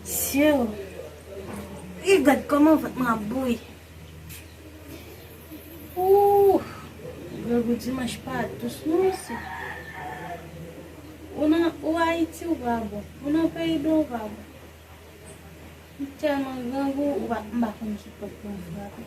Sieuw Ih gad koman vant mwen ap bouyi Ooh Grangou dimanche pa dous non mesye Ou nan ou Haïti ou pa bon Ou nan peyi blan ou pa bon M telman grangou m pa konn ki pot pou m frape.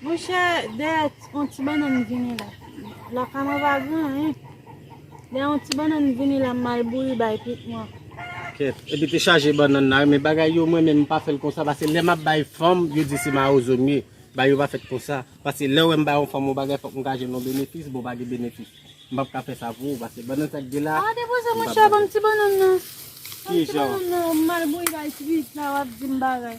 Monchè dèyè yon ti bannann vini la Lakay mwen pa gen anyen Dèyè yon ti bannann vini la M al bouyi bay pit mwen Kèt epi te chaje bannann la Men bagay yo mwen menm m pa fè l konsa Pase lè m ap bay fanm Yo di se mawozo m ye Bagay yo pa fèt konsa Pase lè w wè m bay yon fanm yon bagay Fòk m ka jwenn yon benefis Bon pa gen benefis M pap ka fè sa pou ou Pase bannann sa k gen la A depoze monchè Ban m ti bannann nan Ban m ti bannann nan M al bouyi bay pit la W ap di m bagay.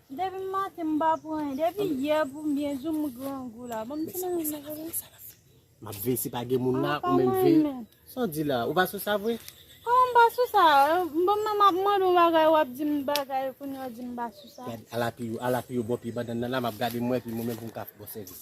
Depi maten m pa pran anyen. Depi yè pou m byen jou m grangou la. Ban m ti manje m nan vre. M ap veye si pa gen moun la ou menm veye. Sa w di la? Ou pa sou sa vre? Kòman m pa sou sa? Bon men m ap mande w bagay w ap di m bagay kounye w di m pa sou sa. Gad ala pi yo ala pi yo bo pye bandann nan la m ap gade m wè pi mwen menm pou m ka fè w sèvis.